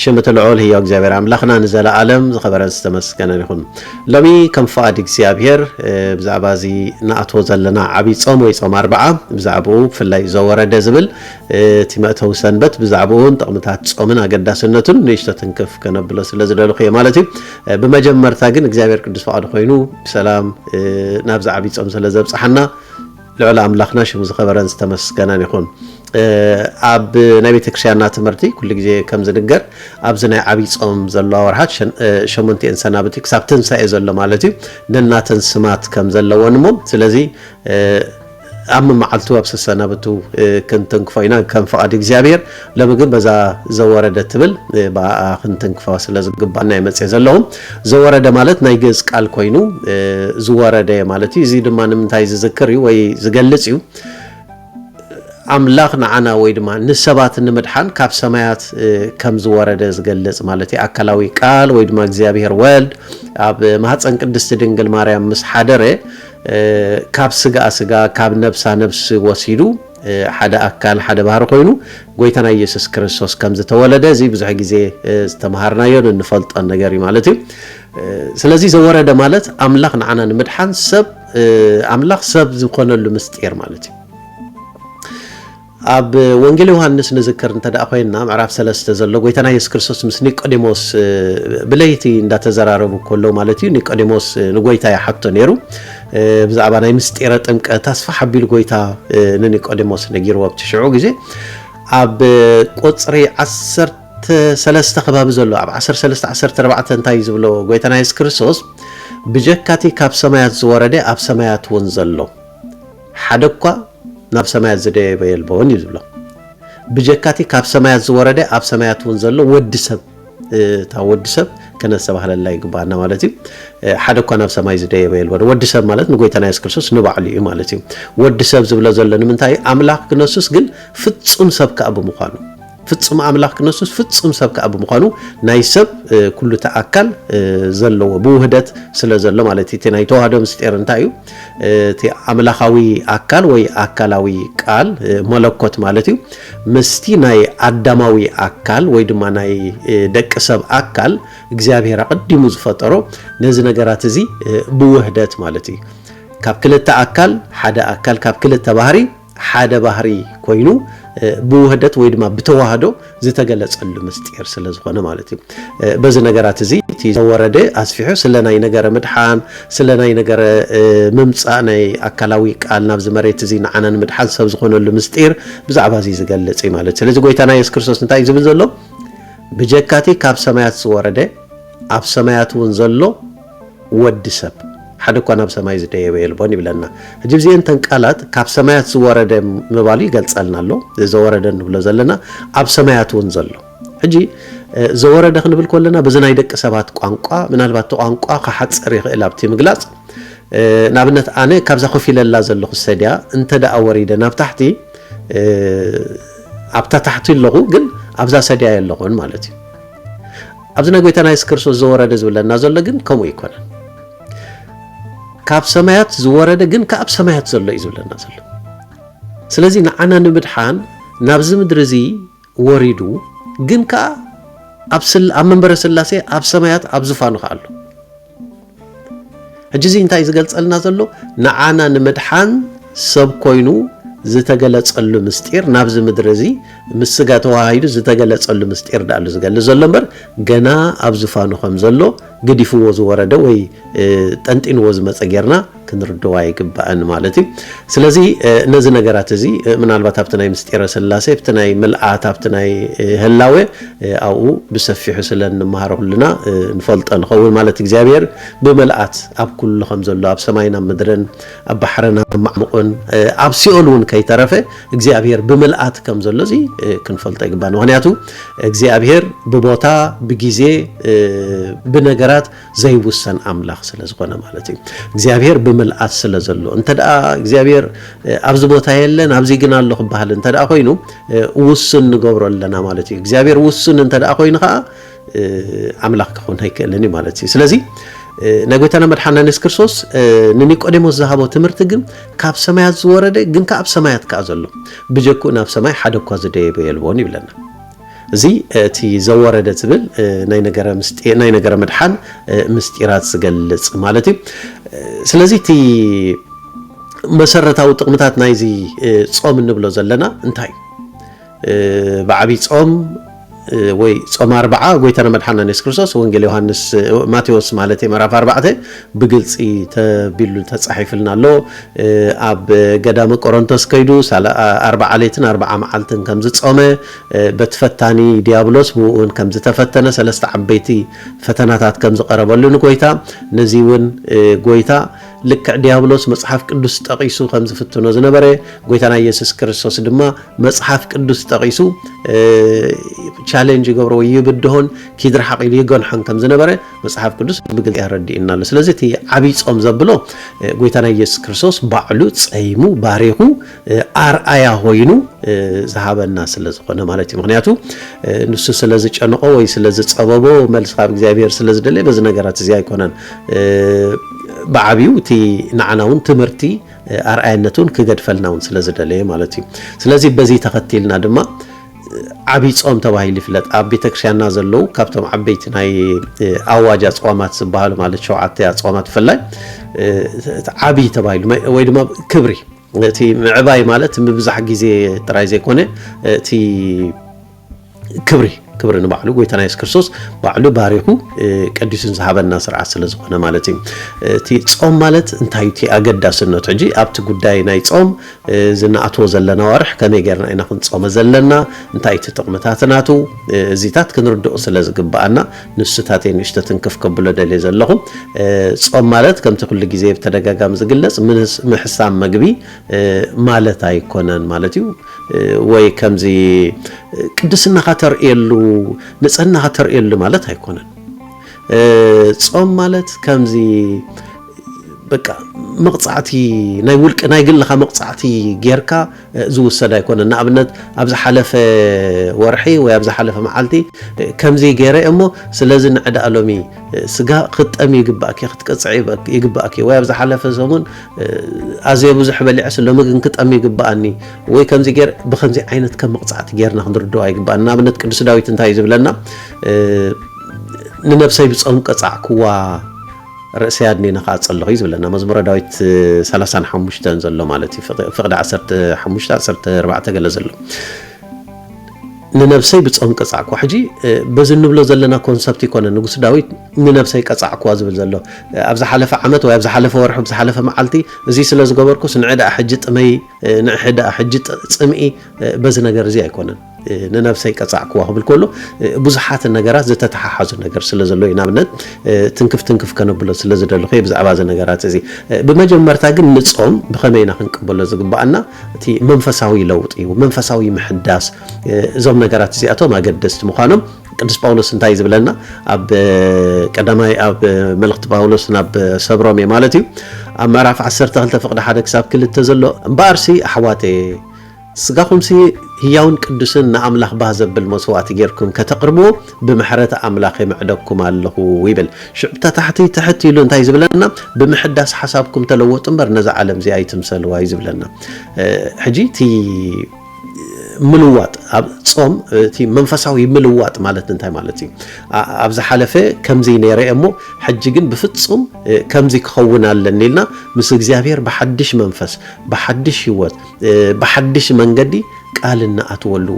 ሽም እቲ ልዑል ህያው እግዚኣብሔር ኣምላኽና ንዘለዓለም ዝኸበረን ዝተመስገነን ይኹን። ሎሚ ከም ፍቓድ እግዚኣብሔር ብዛዕባ እዚ ንኣትዎ ዘለና ዓብይ ጾም ወይ ጾም ኣርብዓ ብዛዕባኡ ብፍላይ ዘወረደ ዝብል እቲ መእተዊ ሰንበት ብዛዕባኡን ጥቕምታት ጾምን ኣገዳስነቱን ንእሽቶ ትንክፍ ከነብሎ ስለ ዝደለኹ እየ ማለት እዩ። ብመጀመርታ ግን እግዚኣብሔር ቅዱስ ፍቓዱ ኮይኑ ብሰላም ናብዚ ዓብይ ጾም ስለ ዘብጽሓና ልዑል ኣምላኽና ሽሙ ዝኸበረን ዝተመስገነን ይኹን። ኣብ ናይ ቤተክርስቲያንና ትምህርቲ ኩሉ ግዜ ከም ዝንገር ኣብዚ ናይ ዓብይ ጾም ዘለዋ ወርሓት ሸሞንቲኤን ሰናብቲ ክሳብ ትንሳኤ ዘሎ ማለት እዩ ነናተን ስማት ከም ዘለወን እሞ ስለዚ ኣብ መመዓልቱ ኣብ ሰሰናብቱ ክንትንክፎ ኢና ከም ፍቓድ እግዚኣብሔር ሎሚ ግን በዛ ዘወረደ ትብል ብኣኣ ክንትንክፋ ስለ ዝግባና ይመጽእ ዘለኹ። ዘወረደ ማለት ናይ ግእዝ ቃል ኮይኑ ዝወረደ ማለት እዩ። እዚ ድማ ንምንታይ ዝዝክር እዩ ወይ ዝገልጽ እዩ። ኣምላኽ ንዓና ወይ ድማ ንሰባት ንምድሓን ካብ ሰማያት ከም ዝወረደ ዝገልጽ ማለት እዩ። ኣካላዊ ቃል ወይ ድማ እግዚኣብሔር ወልድ ኣብ ማህፀን ቅድስቲ ድንግል ማርያም ምስ ሓደረ ካብ ስጋ ስጋ ካብ ነብሳ ነብሲ ወሲዱ ሓደ ኣካል ሓደ ባህሪ ኮይኑ ጎይታና ኢየሱስ ክርስቶስ ከም ዝተወለደ እዚ ብዙሕ ግዜ ዝተምሃርናዮን እንፈልጦን ነገር እዩ ማለት እዩ ስለዚ ዘወረደ ማለት ኣምላኽ ንዓና ንምድሓን ሰብ ኣምላኽ ሰብ ዝኾነሉ ምስጢር ማለት እዩ ኣብ ወንጌል ዮሃንስ ንዝክር እንተ ደኣ ኮይንና ምዕራፍ ሰለስተ ዘሎ ጎይታና የሱስ ክርስቶስ ምስ ኒቆዲሞስ ብለይቲ እንዳተዘራረቡ ከሎ ማለት እዩ ኒቆዲሞስ ንጎይታ ይሓቶ ነይሩ ብዛዕባ ናይ ምስጢረ ጥምቀት ኣስፋሕ ኣቢሉ ጎይታ ንኒቆዲሞስ ነጊርዎ ኣብቲ ሽዑ ግዜ ኣብ ቁፅሪ ዓሰርተ ሰለስተ ከባቢ ዘሎ ኣብ 13 14 እንታይ ዝብሎ ጎይታና የሱስ ክርስቶስ ብጀካቲ ካብ ሰማያት ዝወረደ ኣብ ሰማያት እውን ዘሎ ሓደ እኳ ናብ ሰማያት ዝደየበ የልቦን እዩ ዝብሎ ብጀካቲ ካብ ሰማያት ዝወረደ ኣብ ሰማያት እውን ዘሎ ወዲ ሰብ እታ ወዲ ሰብ ከነስተባህለላ ይግባኣና ማለት እዩ ሓደ እኳ ናብ ሰማይ ዝደየበ የልበዶ ወዲ ሰብ ማለት ንጎይታና የሱስ ክርስቶስ ንባዕሉ እዩ ማለት እዩ ወዲ ሰብ ዝብሎ ዘሎ ንምንታይ እዩ ኣምላኽ ክነሱስ ግን ፍጹም ሰብ ከዓ ብምዃኑ ፍጹም ኣምላኽ ክነሱስ ፍጹም ሰብ ከዓ ብምዃኑ ናይ ሰብ ኩሉ እቲ ኣካል ዘለዎ ብውህደት ስለ ዘሎ ማለት እቲ ናይ ተዋህዶ ምስጢር እንታይ እዩ እቲ ኣምላኻዊ ኣካል ወይ ኣካላዊ ቃል መለኮት ማለት እዩ ምስቲ ናይ ኣዳማዊ ኣካል ወይ ድማ ናይ ደቂ ሰብ ኣካል እግዚኣብሔር ኣቐዲሙ ዝፈጠሮ ነዚ ነገራት እዚ ብውህደት ማለት እዩ ካብ ክልተ ኣካል ሓደ ኣካል ካብ ክልተ ባህሪ ሓደ ባህሪ ኮይኑ ብውህደት ወይ ድማ ብተዋህዶ ዝተገለጸሉ ምስጢር ስለ ዝኾነ ማለት እዩ። በዚ ነገራት እዚ እቲ ዘወረደ ኣስፊሑ ስለ ናይ ነገረ ምድሓን ስለ ናይ ነገረ ምምጻእ ናይ ኣካላዊ ቃል ናብዚ መሬት እዚ ንዓና ንምድሓን ሰብ ዝኾነሉ ምስጢር ብዛዕባ እዚ ዝገልጽ እዩ ማለት ስለዚ ጎይታና የሱስ ክርስቶስ እንታይ እዩ ዝብል ዘሎ ብጀካቲ ካብ ሰማያት ዝወረደ ኣብ ሰማያት እውን ዘሎ ወዲ ሰብ ሓደ እኳ ናብ ሰማይ ዝደየበ የልቦን ይብለና። ሕጂ እዚኤን እተን ቃላት ካብ ሰማያት ዝወረደ ምባሉ ይገልጸልና ኣሎ። ዘወረደ ንብሎ ዘለና ኣብ ሰማያት እውን ዘሎ ሕጂ ዘወረደ ክንብል ከለና በዚ ናይ ደቂ ሰባት ቋንቋ ምናልባት እቲ ቋንቋ ክሓጽር ይኽእል ኣብቲ ምግላጽ ንኣብነት ኣነ ካብዛ ኮፍ ኢለላ ዘለኹ ሰድያ እንተ ደኣ ወሪደ ናብ ታሕቲ ኣብታ ታሕቲ ኣለኹ ግን ኣብዛ ሰድያ ኣለኹን ማለት እዩ ኣብዚ ናይ ጎይታና የሱስ ክርስቶስ ዘወረደ ዝብለና ዘሎ ግን ከምኡ ኣይኮነን። ካብ ሰማያት ዝወረደ ግን ከኣብ ሰማያት ዘሎ እዩ ዝብለና ዘሎ። ስለዚ ንዓና ንምድሓን ናብዚ ምድሪ እዚ ወሪዱ ግን ከኣ ኣብ መንበረ ስላሴ ኣብ ሰማያት ኣብ ዝፋኑ ከኣሉ ሕጂ እዚ እንታይ ዝገልጸልና ዘሎ ንዓና ንምድሓን ሰብ ኮይኑ ዝተገለጸሉ ምስጢር ናብዚ ምድሪ እዚ ምስ ስጋ ተዋሃሂዱ ዝተገለጸሉ ምስጢር ዳኣሉ ዝገልጽ ዘሎ እምበር ገና ኣብ ዝፋኑ ከም ዘሎ ግዲፍዎ ዝወረደ ወይ ጠንጢንዎ ዝመጸ ጌርና ክንርድዋ ይግባእን ማለት እዩ ስለዚ ነዚ ነገራት እዚ ምናልባት ኣብቲ ናይ ምስጢረ ስላሴ ኣብቲ ናይ ምልኣት ኣብቲ ናይ ህላዌ ኣብኡ ብሰፊሑ ስለ እንመሃሮ ኩልና ንፈልጦ ንኸውን ማለት እግዚኣብሔር ብምልኣት ኣብ ኩሉ ከም ዘሎ ኣብ ሰማይን ኣብ ምድርን ኣብ ባሕርን ኣብ ማዕሙቕን ኣብ ሲኦል እውን ከይተረፈ እግዚኣብሔር ብምልኣት ከም ዘሎ እዚ ክንፈልጦ ይግባእ ምክንያቱ እግዚኣብሔር ብቦታ ብጊዜ ብነገራት ዘይውሰን ኣምላኽ ስለ ዝኾነ ማለት እዩ። እግዚኣብሔር ብምልኣት ስለ ዘሎ እንተ እግዚኣብሔር ኣብዚ ቦታ የለን ኣብዚ ግን ኣሎ ክበሃል እንተ ኮይኑ ውሱን ንገብሮ ኣለና ማለት እዩ። እግዚኣብሔር ውሱን እንተ ኮይኑ ከዓ ኣምላኽ ክኾን ኣይክእልን እዩ ማለት እዩ። ስለዚ ናይ ጎይታና መድሓና የሱስ ክርስቶስ ንኒቆዴሞስ ዝሃቦ ትምህርቲ ግን ካብ ሰማያት ዝወረደ ግን ከ ኣብ ሰማያት ከዓ ዘሎ ብጀክኡ ናብ ሰማይ ሓደ እኳ ዝደየበ የልቦን ይብለና። እዚ እቲ ዘወረደ ትብል ናይ ነገረ ምስጢ ናይ ነገረ ምድሓን ምስጢራት ዝገልጽ ማለት እዩ። ስለዚ እቲ መሰረታዊ ጥቕምታት ናይዚ ጾም እንብሎ ዘለና እንታይ እዩ? ብዓብይ ጾም ወይ ጾም ኣርብዓ ጎይታና መድሓና ኢየሱስ ክርስቶስ ወንጌል ዮሃንስ ማቴዎስ ማለት ምዕራፍ ኣርባዕተ ብግልፂ ተቢሉ ተፃሒፍልና ኣሎ ኣብ ገዳመ ቆሮንቶስ ከይዱ ኣርባዓ ሌትን ኣርባዓ መዓልትን ከም ዝፆመ በቲ ፈታኒ ዲያብሎስ ብኡ እውን ከም ዝተፈተነ ሰለስተ ዓበይቲ ፈተናታት ከም ዝቐረበሉ ንጎይታ ነዚ እውን ጎይታ ልክዕ ዲያብሎስ መፅሓፍ ቅዱስ ጠቒሱ ከም ዝፍትኖ ዝነበረ ጎይታና ኢየሱስ ክርስቶስ ድማ መፅሓፍ ቅዱስ ጠቒሱ ቻሌንጅ ይገብሮ ወይ ይብድሆን ኪድርሓቕ ኢሉ ይገንሖን ከም ዝነበረ መጽሓፍ ቅዱስ ብግልጺ ኣረዲኡና ኣሎ። ስለዚ እቲ ዓብይ ጾም ዘብሎ ጎይታና ኢየሱስ ክርስቶስ ባዕሉ ጸይሙ ባሪኹ ኣርኣያ ኮይኑ ዝሃበና ስለ ዝኾነ ማለት እዩ። ምክንያቱ ንሱ ስለ ዝጨንቆ ወይ ስለ ዝጸበቦ መልሲ ካብ እግዚኣብሔር ስለ ዝደለየ በዚ ነገራት እዚ ኣይኮነን። ብዓብዩ እቲ ንዓና እውን ትምህርቲ ኣርኣያነቱን ክገድፈልና እውን ስለ ዝደለየ ማለት እዩ። ስለዚ በዚ ተኸቲልና ድማ ዓብይ ጾም ተባሂሉ ይፍለጥ። ኣብ ቤተክርስቲያንና ዘለዉ ካብቶም ዓበይቲ ናይ ኣዋጅ ኣጽዋማት ዝበሃሉ ማለት ሸውዓተ ኣጽዋማት ብፍላይ ዓብይ ተባሂሉ ወይ ድማ ክብሪ እቲ ምዕባይ ማለት ምብዛሕ ግዜ ጥራይ ዘይኮነ እቲ ክብሪ ክብሪ ንባዕሉ ጎይታና የሱስ ክርስቶስ ባዕሉ ባሪኹ ቀዲሱን ዝሃበና ስርዓት ስለ ዝኾነ ማለት እዩ እቲ ጾም ማለት እንታይ እቲ ኣገዳስነቱ ሕጂ ኣብቲ ጉዳይ ናይ ጾም እዚ ንኣትዎ ዘለና ኣዋርሕ ከመይ ጌርና ኢና ክንጾመ ዘለና፣ እንታይ እቲ ጥቕምታት ናቱ፣ እዚታት ክንርድኦ ስለ ዝግብኣና ንሱታት'የ ንእሽቶ ትንክፍ ከብሎ ደልየ ዘለኹ። ጾም ማለት ከምቲ ኩሉ ግዜ ብተደጋጋሚ ዝግለጽ ምሕሳም መግቢ ማለት ኣይኮነን ማለት እዩ። ወይ ከምዚ ቅድስናኻ ተርእየሉ፣ ንጽህናኻ ተርእየሉ ማለት ኣይኮነን። ጾም ማለት ከምዚ በቃ መቕጻዕቲ ናይ ውልቂ ናይ ግልኻ መቕጻዕቲ ጌርካ ዝውሰድ ኣይኮነን። ንኣብነት ኣብ ዝሓለፈ ወርሒ ወይ ኣብ ዝሓለፈ መዓልቲ ከምዚ ጌረ እሞ ስለዚ ንዕዳ ሎሚ ስጋ ክትጠሚ ይግባእኪ ክትቅጽዒ ይግባእኪ ወይ ኣብ ዝሓለፈ ሰሙን ኣዝየ ብዙሕ በሊዐስ ሎሚ ግን ክጠሚ ይግባኣኒ ወይ ከምዚ ጌር ብከምዚ ዓይነት ከም መቕጻዕቲ ጌርና ክንርድኦ ኣይግባእን። ንኣብነት ቅዱስ ዳዊት እንታይ እዩ ዝብለና ንነብሰይ ብጾም ቀጻዕክዋ ርእሰይ ኣድኒነ ከኣ ጸለኹ እዩ ዝብለና መዝሙረ ዳዊት ሰላሳን ሓሙሽተን ዘሎ ማለት እዩ ፍቕዲ ዓሰርተ ሓሙሽተ ዓሰርተ ኣርባዕተ ገለ ዘሎ ንነብሰይ ብጾም ቀጻዕኩ ሕጂ በዚ እንብሎ ዘለና ኮንሰፕት ይኮነ ንጉስ ዳዊት ንነብሰይ ቀጻዕኩዋ ዝብል ዘሎ ኣብ ዝሓለፈ ዓመት ወይ ኣብ ዝሓለፈ ወርሒ ዝሓለፈ መዓልቲ እዚ ስለ ዝገበርኩስ ንዕ ደኣ ሕጂ ጥመይ ንዕሒ ደኣ ሕጂ ጽምኢ በዚ ነገር እዚ ኣይኮነን ንነብሰይ ቀጻዕክዋ ክብል ከሎ ብዙሓት ነገራት ዝተተሓሓዙ ነገር ስለ ዘሎ እዩ ንኣብነት ትንክፍ ትንክፍ ከነብሎ ስለ ዝደለኹ እየ ብዛዕባ እዚ ነገራት እዚ ብመጀመርታ ግን ንጾም ብኸመይ ኢና ክንቅበሎ ዝግባኣና እቲ መንፈሳዊ ለውጢ እዩ መንፈሳዊ ምሕዳስ እዞም ነገራት እዚኣቶም ኣገደስቲ ምዃኖም ቅዱስ ጳውሎስ እንታይ ዝብለና ኣብ ቀዳማይ ኣብ መልእኽቲ ጳውሎስ ናብ ሰብሮም እየ ማለት እዩ ኣብ ምዕራፍ 12 ፍቕዲ ሓደ ክሳብ ክልተ ዘሎ እምበኣርሲ ኣሕዋተየ ስጋኹምሲ ህያውን ቅዱስን ንኣምላኽ ባህ ዘብል መሥዋዕቲ ጌርኩም ከተቕርብዎ ብምሕረት ኣምላኽ የምዕደኩም ኣለኹ ይብል። ሽዑ እታ ታሕቲ ትሕት ኢሉ እንታይ ዝብለና ብምሕዳስ ሓሳብኩም ተለወጡ እምበር ነዛ ዓለም እዚኣ ኣይትምሰልዋ እዩ ዝብለና። ሕጂ እቲ ምልዋጥ ኣብ ጾም እቲ መንፈሳዊ ምልዋጥ ማለት እንታይ ማለት እዩ? ኣብ ዝሓለፈ ከምዚ ነይረ እሞ ሕጂ ግን ብፍጹም ከምዚ ክኸውን ኣለኒ ኢልና ምስ እግዚኣብሔር ብሓድሽ መንፈስ ብሓድሽ ህይወት ብሓድሽ መንገዲ ቃል እንኣትወሉ፣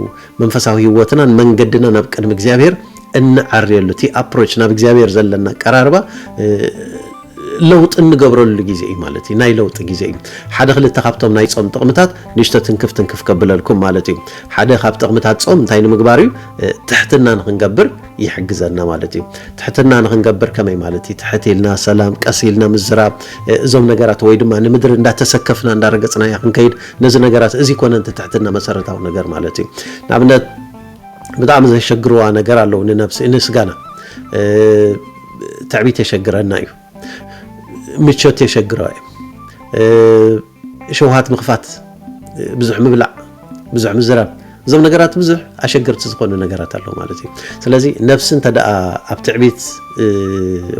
መንፈሳዊ ህይወትናን መንገድናን ኣብ ቅድሚ እግዚኣብሔር እንዐርየሉ፣ እቲ ኣፕሮች ናብ እግዚኣብሔር ዘለና ኣቀራርባ ለውጢ እንገብረሉ ግዜ እዩ ማለት እዩ ናይ ለውጢ ግዜ እዩ ሓደ ክልተ ካብቶም ናይ ፆም ጥቕምታት ንእሽቶ ትንክፍ ትንክፍ ከብለልኩም ማለት እዩ ሓደ ካብ ጥቕምታት ፆም እንታይ ንምግባር እዩ ትሕትና ንክንገብር ይሕግዘና ማለት እዩ። ትሕትና ንክንገብር ከመይ ማለት እዩ? ትሕት ኢልና ሰላም፣ ቀስ ኢልና ምዝራብ፣ እዞም ነገራት ወይ ድማ ንምድሪ እንዳተሰከፍና እንዳረገፅናያ ክንከይድ ነዚ ነገራት እዚ ኮነ እቲ ትሕትና መሰረታዊ ነገር ማለት እዩ። ንኣብነት ብጣዕሚ ዘሸግርዋ ነገር ኣለዉ ንነብሲ ንስጋና ትዕቢት የሸግረና እዩ። ምቾት የሸግሮ እዩ ሸውሃት ምኽፋት ብዙሕ ምብላዕ ብዙሕ ምዝራብ እዞም ነገራት ብዙሕ ኣሸገርቲ ዝኾኑ ነገራት ኣለዉ ማለት እዩ ስለዚ ነፍሲ እንተ ኣብ ትዕቢት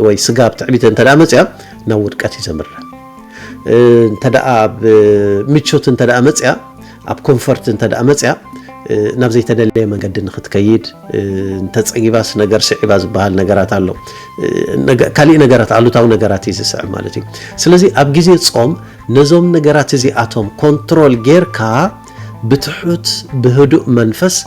ወይ ስጋ ኣብ ትዕቢት እንተ መፅያ ናብ ውድቀት እዩ ዘምርሕ እንተ ኣብ ምቾት እንተ መፅያ ኣብ ኮንፈርት እንተ መፅያ ናብ ዘይተደለየ መንገዲ ንክትከይድ እንተፀጊባስ ነገር ስዒባ ዝበሃል ነገራት ኣሎ ካሊእ ነገራት ኣሉታዊ ነገራት እዩ ዝስዕብ ማለት እዩ ስለዚ ኣብ ግዜ ፆም ነዞም ነገራት እዚኣቶም ኮንትሮል ጌርካ ብትሑት ብህዱእ መንፈስ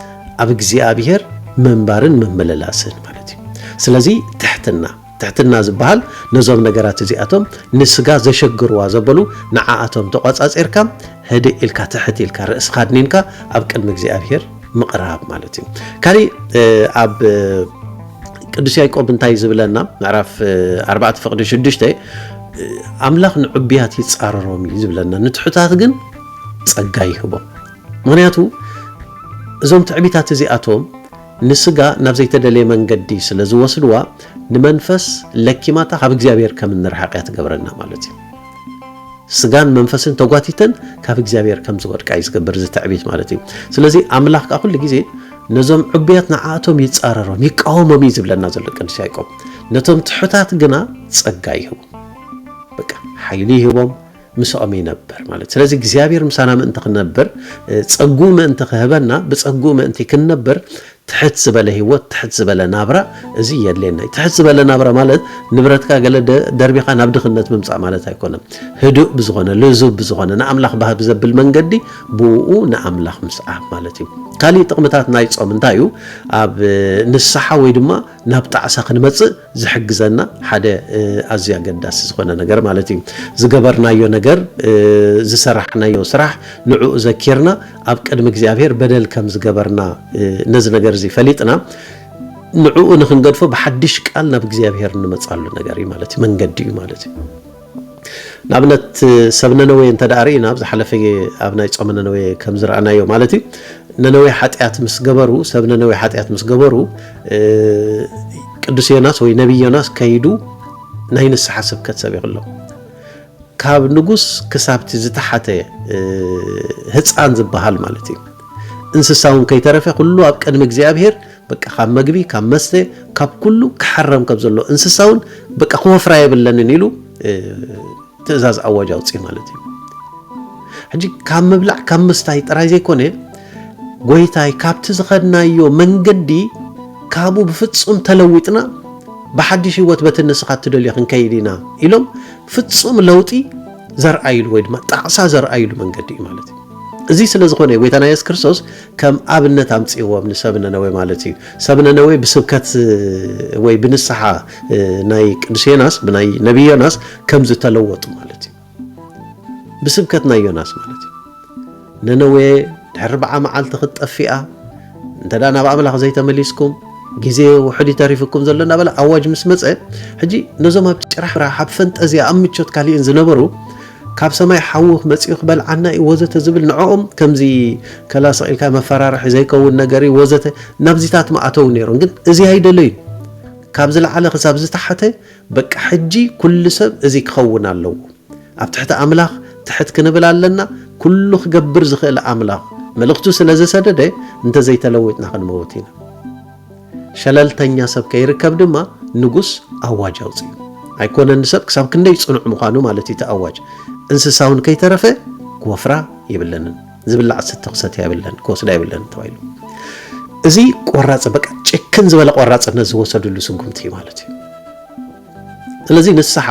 ኣብ እግዚኣብሄር ምንባርን ምምልላስን ማለት እዩ ስለዚ ትሕትና ትሕትና ዝበሃል ነዞም ነገራት እዚኣቶም ንስጋ ዘሸግርዋ ዘበሉ ንዓኣቶም ተቋጻጺርካ ህድእ ኢልካ ትሕት ኢልካ ርእስካ ኣድኒንካ ኣብ ቅድሚ እግዚኣብሄር ምቕራብ ማለት እዩ። ካሊእ ኣብ ቅዱስ ያዕቆብ እንታይ ዝብለና ምዕራፍ 4 ፍቕዲ 6 ኣምላኽ ንዕቡያት ይጻረሮም እዩ ዝብለና ንትሑታት ግን ጸጋ ይህቦም ምክንያቱ እዞም ትዕቢታት እዚኣቶም ንስጋ ናብ ዘይተደልየ መንገዲ ስለ ዝወስድዋ፣ ንመንፈስ ለኪማታ ካብ እግዚኣብሔር ከም እንርሓቕ እያ ትገብረና ማለት እዩ። ስጋን መንፈስን ተጓቲተን ካብ እግዚኣብሔር ከም ዝወድቃ እዩ ዝገብር እዚ ትዕቢት ማለት እዩ። ስለዚ ኣምላኽ ከዓ ኩሉ ግዜ ነዞም ዕቡያት ንዓኣቶም ይጻረሮም ይቃወሞም እዩ ዝብለና ዘሎ ቅዱስ ያዕቆብ። ነቶም ትሑታት ግና ጸጋ ይህቦም፣ በቃ ሓይሊ ይህቦም፣ ምሳኦም ይነበር ማለት ስለዚ እግዚኣብሔር ምሳና ምእንቲ ክንነብር ጸጉኡ ምእንቲ ክህበና ብጸጉኡ ምእንቲ ክንነብር ትሕት ዝበለ ህይወት ትሕት ዝበለ ናብራ እዚ የድልየና እዩ ትሕት ዝበለ ናብራ ማለት ንብረትካ ገለ ደርቢኻ ናብ ድኽነት ምምፃእ ማለት ኣይኮነን ህዱእ ብዝኾነ ልዙብ ብዝኾነ ንኣምላኽ ባህ ብዘብል መንገዲ ብኡ ንኣምላኽ ምስዓብ ማለት እዩ ካሊእ ጥቕምታት ናይ ፆም እንታይ እዩ ኣብ ንስሓ ወይ ድማ ናብ ጣዕሳ ክንመፅእ ዝሕግዘና ሓደ ኣዝዩ ኣገዳሲ ዝኾነ ነገር ማለት እዩ ዝገበርናዮ ነገር ዝሰራሕናዮ ስራሕ ንዕኡ ዘኪርና ኣብ ቅድሚ እግዚኣብሔር በደል ከም ዝገበርና ነዚ ነገር እዚ ፈሊጥና ንዕኡ ንክንገድፎ ብሓድሽ ቃል ናብ እግዚኣብሔር እንመፃሉ ነገር እዩ ማለት እዩ መንገዲ እዩ ማለት እዩ ንኣብነት ሰብ ነነዌ እንተድኣ ርኢና ኣብ ዝሓለፈ ኣብ ናይ ጾመ ነነዌ ከም ዝረኣናዮ ማለት እዩ ነነዌ ሓጢኣት ምስ ገበሩ ሰብ ነነዌ ሓጢኣት ምስ ገበሩ ቅዱስ ዮናስ ወይ ነቢይ ዮናስ ከይዱ ናይ ንስሓ ስብከት ሰቢኹ ኣሎ ካብ ንጉስ ክሳብቲ ዝተሓተ ህፃን ዝበሃል ማለት እዩ እንስሳውን ከይተረፈ ኩሉ ኣብ ቅድሚ እግዚኣብሄር በቃ ካብ መግቢ ካብ መስተ ካብ ኩሉ ክሕረም ከም ዘሎ እንስሳ እውን በቃ ክወፍራ የብለንን ኢሉ ትእዛዝ ኣዋጅ ኣውፅእ ማለት እዩ ሕጂ ካብ ምብላዕ ካብ ምስታይ ጥራይ ዘይኮነ ጎይታይ ካብቲ ዝኸድናዮ መንገዲ ካብኡ ብፍፁም ተለዊጥና ብሓድሽ ህይወት በቲ ንስኻ እትደልዮ ክንከይድ ኢና ኢሎም ፍፁም ለውጢ ዘርኣይሉ ወይ ድማ ጣዕሳ ዘርኣይሉ መንገዲ እዩ ማለት እዩ እዚ ስለ ዝኾነ ጎይታና የሱስ ክርስቶስ ከም ኣብነት ኣምጽእዎም ንሰብ ነነዌ ማለት እዩ ሰብ ነነዌ ብስብከት ወይ ብንስሓ ናይ ቅዱስ ዮናስ ብናይ ነቢ ዮናስ ከም ዝተለወጡ ማለት እዩ ብስብከት ናይ ዮናስ ማለት እዩ ነነዌ ኣርብዓ መዓልቲ ክትጠፊኣ እንተ ናብ ኣምላኽ ዘይተመሊስኩም ግዜ ውሕድ ተሪፍኩም ዘሎ እናበለ ኣዋጅ ምስ መፀ ሕጂ ነዞም ኣብ ጭራሕራሕ ኣብ ፈንጠዝያ ኣብ ምቾት ካሊእን ዝነበሩ ካብ ሰማይ ሓዊ መጺኡ ክበልዓና እዩ ወዘተ ዝብል ንዕኦም ከምዚ ከላ ስቕ ኢልካ መፈራርሒ ዘይከውን ነገር እዩ ወዘተ ናብዚታት ምኣተዉ ነይሮም ግን እዚ ኣይደለዩን ካብ ዝለዓለ ክሳብ ዝተሓተ በቃ ሕጂ ኩሉ ሰብ እዚ ክኸውን ኣለዎ ኣብ ትሕቲ ኣምላኽ ትሕት ክንብል ኣለና ኩሉ ክገብር ዝኽእል ኣምላኽ መልእኽቱ ስለ ዘሰደደ እንተዘይተለዊጥና ክንመውት ኢና። ሸለልተኛ ሰብ ከይርከብ ድማ ንጉስ ኣዋጅ ኣውጺኡ። ኣይኮነን ንሰብ ክሳብ ክንደይ ጽኑዕ ምዃኑ ማለት እዩ እቲ ኣዋጅ። እንስሳውን ከይተረፈ ክወፍራ የብለንን፣ ዝብላዕ ዝስተ ክሰትያ የብለን፣ ክወስዳ የብለንን ተባሂሉ። እዚ ቆራጽ በቃ ጭክን ዝበለ ቆራጽነት ዝወሰድሉ ስጉምቲ እዩ ማለት እዩ። ስለዚ ንስሓ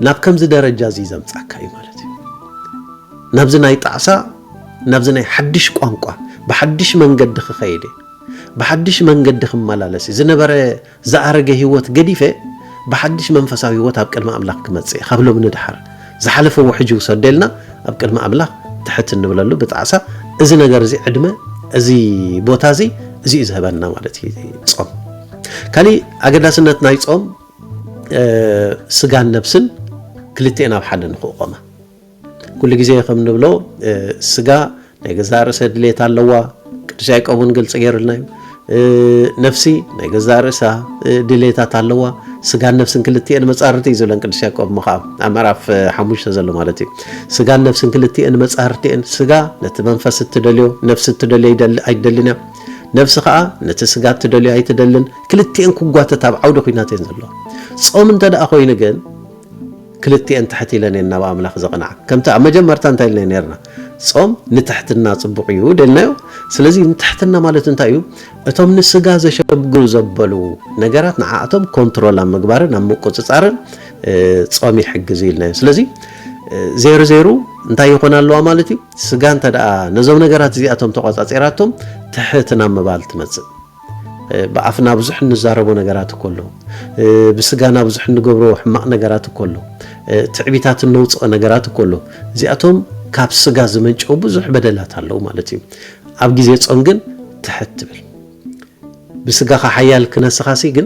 ናብ ከምዚ ደረጃ እዚ ዘምጻካ እዩ ማለት እዩ። ናብዚ ናይ ጣዕሳ ናብዚ ናይ ሓድሽ ቋንቋ ብሓድሽ መንገዲ ክኸይድ እየ ብሓድሽ መንገዲ ክመላለስ እየ፣ ዝነበረ ዝኣረገ ህይወት ገዲፈ ብሓድሽ መንፈሳዊ ህይወት ኣብ ቅድሚ ኣምላኽ ክመጽእ እየ፣ ካብ ሎሚ ንደሓር ዝሓለፈ ውሕጅ ውሰደ ኢልና ኣብ ቅድሚ ኣምላኽ ትሕት እንብለሉ ብጣዕሳ እዚ ነገር እዚ ዕድመ እዚ ቦታ እዚ እዚ እዩ ዝህበና ማለት እዩ ጾም። ካሊእ ኣገዳስነት ናይ ጾም ስጋን ነብስን ክልቲኤን ኣብ ሓደ ንክቆማ ኩሉ ግዜ ከም ንብሎ ስጋ ናይ ገዛእ ርእሰ ድሌት ኣለዋ። ቅዱስ ያዕቆብ እውን ግልፂ ገይሩልና እዩ። ነፍሲ ናይ ገዛእ ርእሳ ድሌታት ኣለዋ። ስጋን ነፍስን ክልቲኤን መፃርርቲ እዩ ዝብለን ቅዱስ ያዕቆብ እሞ ከዓ ኣብ ምዕራፍ ሓሙሽተ ዘሎ ማለት እዩ። ስጋን ነፍስን ክልቲኤን መፃርርቲ እየን። ስጋ ነቲ መንፈስ እትደልዮ ነፍሲ እትደልዮ ኣይትደልን እያ። ነፍሲ ከዓ ነቲ ስጋ እትደልዮ ኣይትደልን። ክልቲኤን ክጓተት ኣብ ዓውዲ ኩናት እየን ዘለዋ። ጾም እንተ ደኣ ኮይኑ ግን ክልቲኤን ትሕት ኢለን እየን ናብ ኣምላኽ ዘቕንዓ። ከምቲ ኣብ መጀመርታ እንታይ ኢልና ኔርና? ጾም ንትሕትና ጽቡቕ እዩ ደልናዮ። ስለዚ ንትሕትና ማለት እንታይ እዩ? እቶም ንስጋ ዘሸግሩ ዘበሉ ነገራት ንዓኣቶም ኮንትሮል ኣብ ምግባርን ኣብ ምቁጽጻርን ጾም ይሕግዝ እዩ ኢልናዮ። ስለዚ ዜሩ ዜሩ እንታይ ይኾን ኣለዋ ማለት እዩ? ስጋ እንተ ደኣ ነዞም ነገራት እዚኣቶም ተቖጻጺራቶም ትሕት ናብ ምባል ትመጽእ። ብኣፍና ብዙሕ እንዛረቦ ነገራት እኮ ኣሎ። ብስጋና ብዙሕ እንገብሮ ሕማቕ ነገራት እኮ ኣሎ። ትዕቢታት እነውፅኦ ነገራት እኮ ኣሎ። እዚኣቶም ካብ ስጋ ዝመንጨው ብዙሕ በደላት ኣለዉ ማለት እዩ። ኣብ ግዜ ጾም ግን ትሕት ትብል ብስጋኻ ሓያል ክነስኻሲ ግን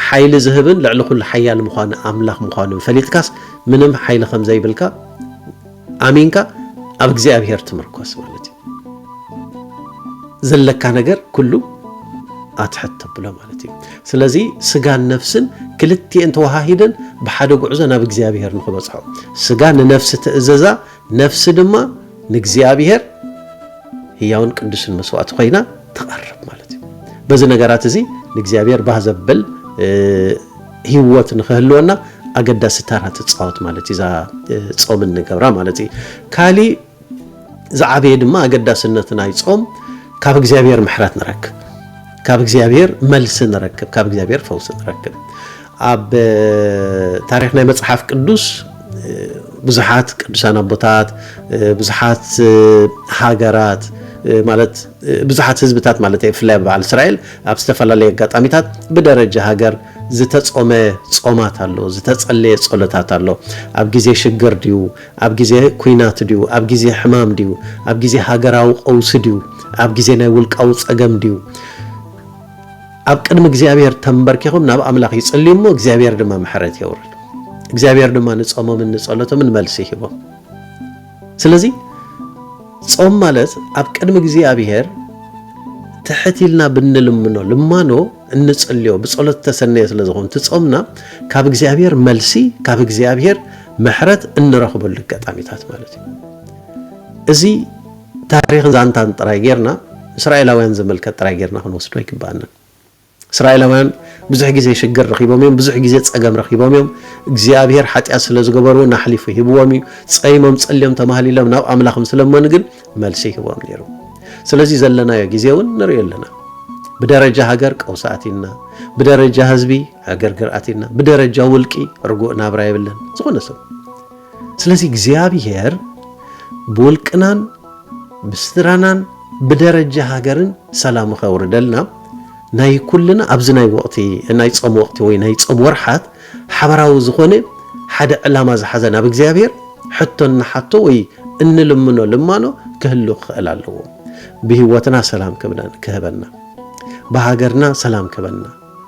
ሓይሊ ዝህብን ልዕሊ ኩሉ ሓያል ምዃኑ ኣምላኽ ምዃኑ ፈሊጥካስ ምንም ሓይሊ ከም ዘይብልካ ኣሚንካ ኣብ እግዚኣብሄር ትምርኮስ ማለት እዩ። ዘለካ ነገር ኩሉ ኣትሕት ተብሎ ማለት እዩ። ስለዚ ስጋን ነፍስን ክልቲኤን ተወሃሂደን ብሓደ ጉዕዞ ናብ እግዚኣብሄር ንክበጽሖ ስጋ ንነፍሲ ትእዘዛ፣ ነፍሲ ድማ ንእግዚኣብሄር ህያውን ቅዱስን መስዋእቲ ኮይና ትቐርብ ማለት እዩ። በዚ ነገራት እዚ ንእግዚኣብሄር ባህ ዘብል ሂወት ንኽህልወና ኣገዳሲ ታራ ትጻወት ማለት እዩ እዛ ጾም እንገብራ ማለት እዩ ካሊእ ዝዓበየ ድማ ኣገዳስነት ናይ ጾም ካብ እግዚኣብሔር ምሕረት ንረክብ ካብ እግዚኣብሔር መልሲ ንረክብ ካብ እግዚኣብሔር ፈውሲ ንረክብ ኣብ ታሪክ ናይ መጽሓፍ ቅዱስ ብዙሓት ቅዱሳን ኣቦታት ብዙሓት ሃገራት ማለት ብዙሓት ህዝብታት ማለተይ ብፍላይ ኣብ በዓል እስራኤል ኣብ ዝተፈላለየ ኣጋጣሚታት ብደረጃ ሃገር ዝተጾመ ጾማት ኣሎ፣ ዝተጸለየ ጸሎታት ኣሎ። ኣብ ግዜ ሽግር ድዩ፣ ኣብ ግዜ ኲናት ድዩ፣ ኣብ ግዜ ሕማም ድዩ፣ ኣብ ግዜ ሃገራዊ ቀውሲ ድዩ፣ ኣብ ግዜ ናይ ውልቃዊ ጸገም ድዩ፣ ኣብ ቅድሚ እግዚኣብሔር ተንበርኪኹም ናብ ኣምላኽ ይጽልዩ እሞ እግዚኣብሔር ድማ ምሕረት የውርድ። እግዚኣብሔር ድማ ንጾሞምን ንጸሎቶምን መልሲ ይህቦም። ስለዚ ጾም ማለት ኣብ ቅድሚ እግዚኣብሔር ትሕት ኢልና ብንልምኖ ልማኖ እንጽልዮ ብጸሎት ዝተሰነየ ስለ ዝኾኑ እቲ ጾምና ካብ እግዚኣብሔር መልሲ ካብ እግዚኣብሔር ምሕረት እንረኽበሉ ኣጋጣሚታት ማለት እዩ እዚ ታሪኽን ዛንታን ጥራይ ጌርና እስራኤላውያን ዝምልከት ጥራይ ጌርና ክንወስዶ ኣይግባኣናን እስራኤላውያን ብዙሕ ግዜ ሽግር ረኺቦም እዮም፣ ብዙሕ ግዜ ጸገም ረኺቦም እዮም። እግዚኣብሄር ሓጢኣት ስለ ዝገበሩ እውን ኣሕሊፉ ሂብዎም እዩ። ጸይሞም ጸልዮም ተማህሊሎም ናብ ኣምላኽ ምስ ለመኑ ግን መልሲ ይህቦም ነይሩ። ስለዚ ዘለናዮ ግዜ እውን ንርእዮ ኣለና። ብደረጃ ሃገር ቀውሲ ኣቲና፣ ብደረጃ ህዝቢ ዕግርግር ኣቲና፣ ብደረጃ ውልቂ ርጉእ ናብራ የብለን። ዝኾነ ሰብ ስለዚ እግዚኣብሔር ብውልቅናን ብስድራናን ብደረጃ ሃገርን ሰላም ኸውርደልና ናይ ኩልና ኣብዚ ናይ ወቕቲ ናይ ጾም ወቕቲ ወይ ናይ ጾም ወርሓት ሓበራዊ ዝኾነ ሓደ ዕላማ ዝሓዘ ናብ እግዚኣብሔር ሕቶ እንሓቶ ወይ እንልምኖ ልማኖ ክህሉ ክኽእል ኣለዎ። ብህይወትና ሰላም ክህበና፣ ብሃገርና ሰላም ክህበና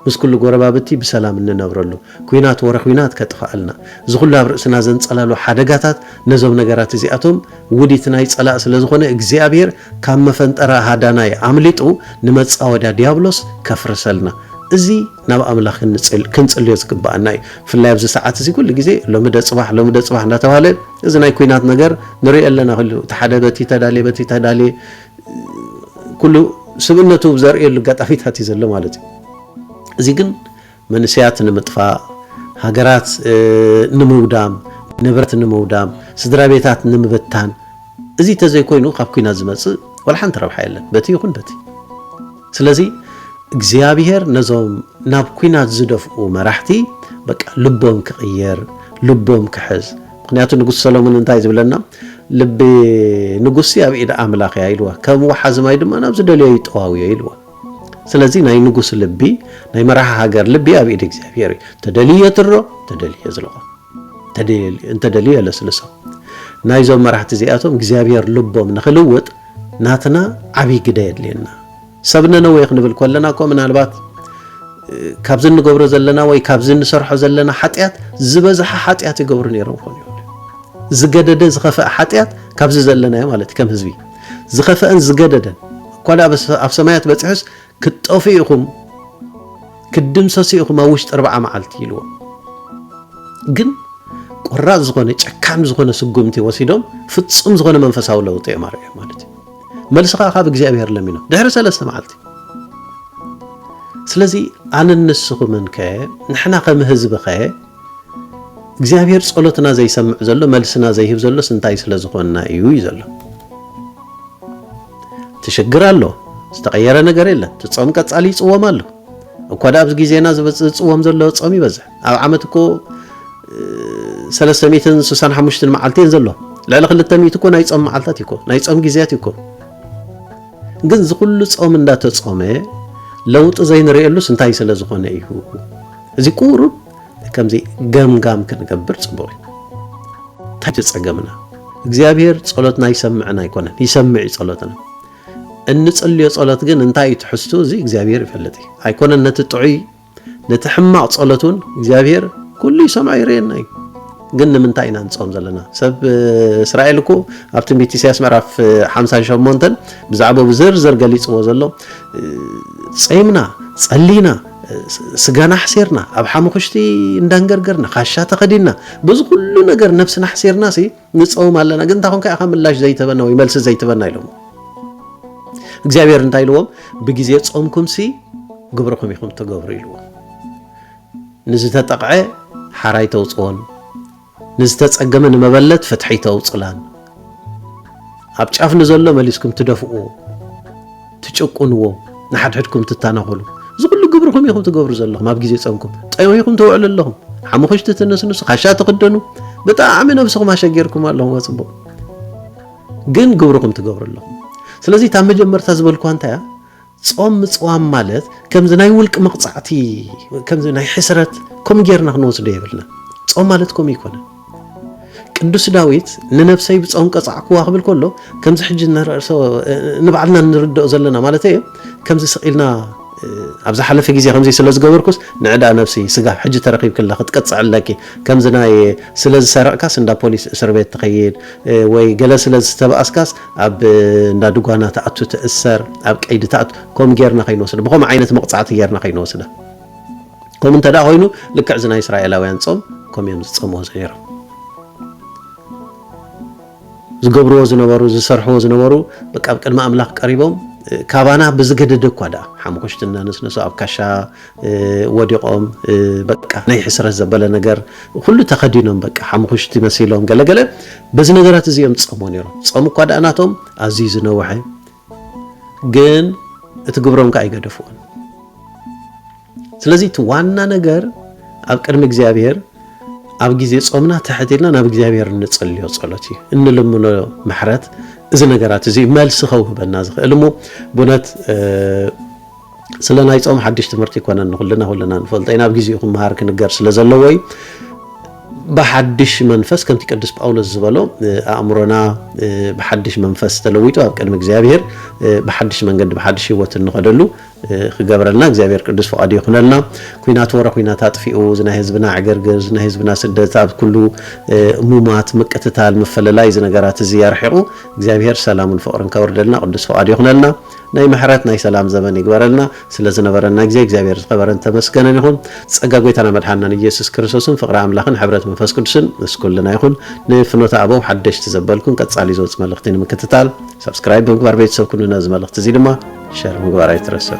ምስ ኩሉ ጎረባብቲ ብሰላም እንነብረሉ ኩናት ወረ ኩናት ከጥፍኣልና እዚ ኩሉ ኣብ ርእስና ዘንጸላሉ ሓደጋታት ነዞም ነገራት እዚኣቶም ውዲት ናይ ጸላእ ስለ ዝኾነ እግዚኣብሄር ካብ መፈንጠራ ሃዳናይ ኣምሊጡ ንመጻወድያ ድያብሎስ ከፍርሰልና እዚ ናብ ኣምላኽ ክንጽልዮ ዝግብኣና እዩ ብፍላይ ኣብዚ ሰዓት እዚ ኩሉ ግዜ ሎሚ ደ ጽባሕ ሎሚ ደ ጽባሕ እንዳተባህለ እዚ ናይ ኩናት ነገር ንሪኦ ኣለና ኩሉ እቲ ሓደ በቲ ተዳልየ በቲ ተዳልየ ኩሉ ስብእነቱ ዘርእየሉ ኣጋጣሚታት እዩ ዘሎ ማለት እዩ። እዚ ግን መንእሰያት ንምጥፋእ፣ ሃገራት ንምውዳም፣ ንብረት ንምውዳም፣ ስድራ ቤታት ንምብታን እዚ እንተዘይኮይኑ ካብ ኩናት ዝመጽእ ዋላ ሓንቲ ረብሓ የለን በቲ ይኹን በቲ። ስለዚ እግዚኣብሄር ነዞም ናብ ኩናት ዝደፍኡ መራሕቲ በቃ ልቦም ክቕየር ልቦም ክሕዝ ምኽንያቱ ንጉስ ሰሎሞን እንታይ ዝብለና ልቢ ንጉሲ ኣብ ኢድ ኣምላኽ እያ ኢልዋ ከም ወሓዚ ማይ ድማ ናብ ዝደልዮ ይጠዋውዮ ኢልዋ ስለዚ ናይ ንጉስ ልቢ ናይ መራሒ ሃገር ልቢ ኣብ ኢድ እግዚኣብሔር እዩ ተደልዩ የትሮ ተደልዩ የዝልቆ እንተደልዩ የለስልሶ ናይዞም መራሕቲ እዚኣቶም እግዚኣብሔር ልቦም ንክልውጥ ናትና ዓብይ ግደ የድልየና ሰብ ነነዌ ክንብል ከለና እኮ ምናልባት ካብዚ እንገብሮ ዘለና ወይ ካብዚ እንሰርሖ ዘለና ሓጢኣት ዝበዝሐ ሓጢኣት ይገብሩ ነይሮም ክኾኑ ይኽእሉ ዝገደደ ዝኸፈአ ሓጢኣት ካብዚ ዘለናዮ ማለት እዩ ከም ህዝቢ ዝኸፈአን ዝገደደን እኳ ደኣ ኣብ ሰማያት በፂሑስ ክትጠፍኡ ኢኹም ክትድምሰሱ ኢኹም ኣብ ውሽጢ ኣርባዓ መዓልቲ ኢልዎም ግን ቆራፅ ዝኾነ ጨካን ዝኾነ ስጉምቲ ወሲዶም ፍፁም ዝኾነ መንፈሳዊ ለውጢ እዮም ኣርእዮም ማለት እዩ መልሲ ከኣ ካብ እግዚኣብሔር ለሚኖ ድሕሪ ሰለስተ መዓልቲ ስለዚ ኣነን ንስኹምን ከ ንሕና ከም ህዝቢ ከ እግዚኣብሔር ጸሎትና ዘይሰምዕ ዘሎ መልስና ዘይህብ ዘሎስ እንታይ ስለ ዝኾንና እዩ እዩ ዘሎ እቲ ሽግር ኣሎ ዝተቐየረ ነገር የለን እቲ ጾም ቀጻሊ ይጽወም ኣሎ እኳ ደኣ ኣብዚ ግዜና ዝጽወም ዘሎ ጾም ይበዝሕ ኣብ ዓመት እኮ ሰለስተ ሚእትን ስሳን ሓሙሽትን መዓልቲ እየን ዘሎ ልዕሊ ክልተ ሚእቲ እኮ ናይ ፆም መዓልታት እዩ እኮ ናይ ፆም ግዜያት እዩ እኮ ግን እዚ ኩሉ ፆም እንዳተፆመ ለውጢ ዘይንርእየሉስ እንታይ ስለ ዝኾነ እዩ እዚ ቁሩብ ከምዚ ገምጋም ክንገብር ፅቡቅ እዩ እንታይ ፀገምና እግዚኣብሔር ፀሎትና ይሰምዕን ኣይኮነን ይሰምዕ እዩ ፀሎትና እንፅልዮ ፀሎት ግን እንታይ እዩ ትሕዝቱ እዚ እግዚኣብሔር ይፈልጥ እዩ ኣይኮነን ነቲ ጥዑይ ነቲ ሕማቕ ጸሎት እውን እግዚኣብሄር ኩሉ ይሰምዖ ይርእየና እዩ ግን ንምንታይ ኢና ንጾም ዘለና ሰብ እስራኤል እኮ ኣብ ትንቢት ኢሳያስ ምዕራፍ 58 ብዛዕባ ብዝርዝር ገሊጽዎ ዘሎ ጸይምና ጸሊና ስጋና ኣሕሲርና ኣብ ሓሙኽሽቲ እንዳንገርገርና ካሻ ተኸዲና በዚ ኩሉ ነገር ነብስና ኣሕሲርና ሲ ንጸውም ኣለና ግን እንታይ ኮንካ ኢኻ ምላሽ ዘይትህበና ወይ መልሲ ዘይትህበና ኢሎሞ እግዚኣብሔር እንታይ ኢልዎም ብግዜ ጾምኩምሲ ግብርኹም ኢኹም ትገብሩ ኢልዎም ንዝተጠቕዐ ሓራይ ተውፅኦን ንዝተፀገመ ንመበለት ፍትሒ ተውፅላን ኣብ ጫፍ ንዘሎ መሊስኩም ትደፍእዎ ትጭቁንዎ ንሓድሕድኩም ትታናኾሉ እዚ ኩሉ ግብርኹም ኢኹም ትገብሩ ዘለኹም ኣብ ግዜ ጸምኩም ጠዊኹም ተውዕሉ ኣለኹም ሓሙኽሽቲ ትንስንሱ ካሻ ትኽደኑ ብጣዕሚ ነብስኹም ኣሸጊርኩም ኣለኹም ኣጽቡቕ ግን ግብርኹም ትገብሩ ኣለኹም ስለዚ እታ መጀመርታ ዝበልኳ እንታይ እያ ጾም ምጽዋም ማለት ከምዚ ናይ ውልቂ መቕጻዕቲ ከምዚ ናይ ሕስረት ከምኡ ጌርና ክንወስዶ የብልና ጾም ማለት ከምኡ ይኮነን ቅዱስ ዳዊት ንነብሰይ ብጾም ቀጻዕክዋ ክብል ከሎ ከምዚ ሕጂ ንርእሶ ንባዕልና ንርድኦ ዘለና ማለት እዩ ከምዚ ስቂልና ኣብ ዝሓለፈ ግዜ ከምዚ ስለ ዝገበርኩስ ንዕዳ ነብሲ ስጋ ሕጂ ተረኪብክላ ክትቀጽዕ ኣለኪ ከምዚ ናይ ስለ ዝሰረቕካስ እንዳ ፖሊስ እስር ቤት ትኸይድ ወይ ገለ ስለ ዝተባእስካስ ኣብ እንዳ ድጓና ትኣቱ ትእሰር ኣብ ቀይዲ ትኣቱ ከምኡ ጌርና ከይንወስዳ ብከምኡ ዓይነት መቕጻዕቲ ጌርና ከይንወስዳ ከምኡ እንተ ኮይኑ ልክዕ እዚ ናይ እስራኤላውያን ጾም ከምኡ እዮም ዝጸምዎ ዝነይሮም ዝገብርዎ ዝነበሩ ዝሰርሕዎ ዝነበሩ በቃ ኣብ ቅድሚ ኣምላኽ ቀሪቦም ካባና ብዝገደደ እኳ ደኣ ሓሙኽሽቲ እናነስነሱ ኣብ ካሻ ወዲቖም በቃ ናይ ሕስረት ዘበለ ነገር ኩሉ ተኸዲኖም በቃ ሓሙኽሽቲ መሲሎም ገለገለ በዚ ነገራት እዚኦም ዝጸምዎ ነይሮም ጸም እኳ ደኣ ናቶም ኣዝዩ ዝነውሐ ግን እቲ ግብሮም ከዓ ኣይገደፍዎን። ስለዚ እቲ ዋና ነገር ኣብ ቅድሚ እግዚኣብሔር ኣብ ግዜ ጾምና ትሕት ኢልና ናብ እግዚኣብሔር እንጽልዮ ጸሎት እዩ እንልምኖ ምሕረት እዚ ነገራት እዚ መልሲ ከውህበና ዝኽእል እሞ ብእውነት ስለ ናይ ጾም ሓድሽ ትምህርቲ ኣይኮነን ንኹልና ኩልና ንፈልጦ ኢና ኣብ ግዜኡ ክመሃር ክንገር ስለ ዘለዎ እዩ ብሓድሽ መንፈስ ከምቲ ቅዱስ ጳውሎስ ዝበሎ ኣእምሮና ብሓድሽ መንፈስ ተለዊጡ ኣብ ቅድሚ እግዚኣብሔር ብሓድሽ መንገዲ ብሓድሽ ህይወት እንኸደሉ ክገብረልና እግዚኣብሔር ቅዱስ ፍቓዱ ይኹነልና ኩናት ወረ ኩናት ኣጥፊኡ እዚ ናይ ህዝብና ዕግርግር እዚ ናይ ህዝብና ስደት ኣብ ኩሉ ሙማት ምቅትታል ምፈለላይ እዚ ነገራት እዚ ኣርሒቑ እግዚኣብሔር ሰላሙን ፍቕርን ከወርደልና ቅዱስ ፍቓዱ ይኹነልና ናይ ምሕረት ናይ ሰላም ዘመን ይግበረልና። ስለ ዝነበረና ግዜ እግዚኣብሔር ዝኸበረን ዝተመስገነን ይኹን። ጸጋ ጎይታና መድሓንናን ኢየሱስ ክርስቶስን ፍቕሪ ኣምላኽን ሕብረት መንፈስ ቅዱስን ምስ ኩልና ይኹን። ንፍኖተ ኣበው ሓደሽቲ ዘበልኩም ቀጻሊ ዝወጽእ መልእኽቲ ንምክትታል Subscribe ብምግባር ቤተሰብ ኩኑ ነዚ መልእኽቲ እዚ ድማ Share ምግባር ኣይትረስዑ።